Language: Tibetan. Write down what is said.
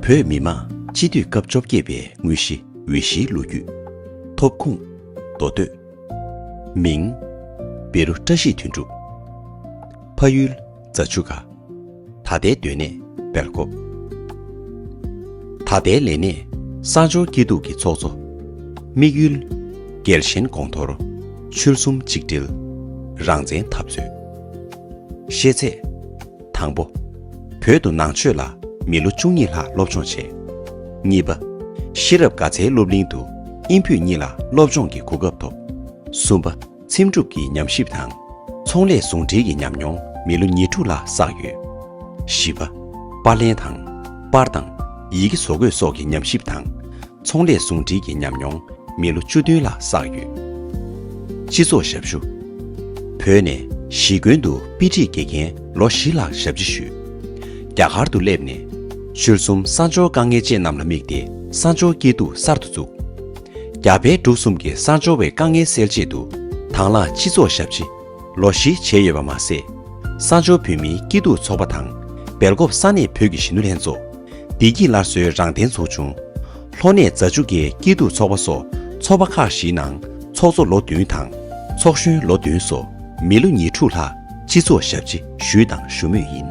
བོད་མི་མང་སྤྱི་འཐུས་སྐབས་བཅོ་བརྒྱད་པའི་དངོས་གཞི་འོས་གཞིའི་ལོ་རྒྱུས། ཐོབ་ཁུངས། མདོ་སྟོད། མིང། བེ་རུ་བཀྲ་ཤིས་དོན་གྲུབ། ཕ་ཡུལ། རྫ་ཆུ་ཁ། ད་ལྟའི་སྡོད་གནས། སྦེལ་ཀོབ། ད་ལྟའི་ལས་གནས། གསང་སྦྱོར་སྐྱིད་སྡུག་གི་ཚོགས་གཙོ། དམིགས་ཡུལ། རྒྱལ་ཞེན་དགོངས་མཐོར། ཆོལ་གསུམ་ཆིག་སྒྲིལ། རང་བཙན་འཐབ་རྩོད། ཤེས་ཚད། དང་པོ། བོད་དུ་ནང་ཆོས་ལ་མི་ལོ་བཅུ་གཉིས་ལྷག་སློབ་སྦྱོང་བྱས། གཉིས་པ། ཤེས་རབ་དགའ་ཚལ་སློབ་གླིང་དུ་དབྱིན་བོད་གཉིས་ལ་སློབ་སྦྱོང་གི་གོ་སྐབས་ཐོབ། གསུམ་པ། འཚེམ་དྲུབ་ཀྱི་ཉམས་ཞིབ་དང། ཚོང་ལས་ཟུང་འབྲེལ་གྱི་ཉམས་མྱོང་མི་ལོ་ཉེར་དྲུག་ལྷག་བསགས་ཡོད། བཞི་པ། པར་ལེན་དང། པར་དང། ཡི་གེ་བཟོ་འགོད་སོགས་ཀྱི་ཉམས་ཞིབ་དང། ཚོང་ལས་ཟུང་འབྲེལ་གྱི་ཉམས་མྱོང་མི་ལོ་བཅུ་བདུན་ལ་བསགས་ཡོད། སྤྱི་ཚོགས་ཞབས་ཞུ། བོད་ནས་གཞིས་དགོན་དུ་དཔེ་ཁྲིད་དགེ་རྒན་ལོ་བཞི་ལྷག་ཞབས་ཕྱི་ཞུས། རྒྱ་གར་དུ་སླེབས་ནས། ཆོལ་གསུམ་གསར་འབྱོར་དཀའ་ངལ་ཅན་རྣམས་ལ་དམིགས་ཏེ་གསར་འབྱོར་སྐྱིད་སྡུག་གསར་དུ་བཙུགས། རྒྱ་བལ་འབྲུག་གསུམ་གྱི་གསར་འབྱོར་བའི་དཀའ་ངལ་སེལ་ཆེད་དུ་དྭང་བླངས་སྤྱི་ཚོགས་ཞབས་ཕྱི། ལོ་བཞི་བྱས་ཡོད་པ་མ་ཟད། གསང་སྦྱོར་བོད་མིའི་སྐྱིད་སྡུག་ཚོགས་པ་དང། སྦེལ་ཀོབ་ས་གནས་བོད་ཀྱི་གཞིས་ནུ་ལྷན་ཚོགས། བདེ་སྐྱིད་སླར་གསོའི་རང་བདེན་ཚོགས་ཆུང། ལྷོ་ནས་རྫ་ཆུ་ཁའི་སྐྱིད་སྡུག་ཚོགས་པ་སོགས་ཚོགས་པ་ཁག་བཞིའི་ནང་ཚོགས་གཙོ་ལོ་བདུན་དང། ཚོགས་གཞོན་ལོ་བདུན་སོགས་མི་ལོ་ཉེར་དྲུག་ལྷག་སྤྱི་ཚོགས་ཞབས་ཕྱི་ཞུས་དང་ཞུ་མུས་ཡིན།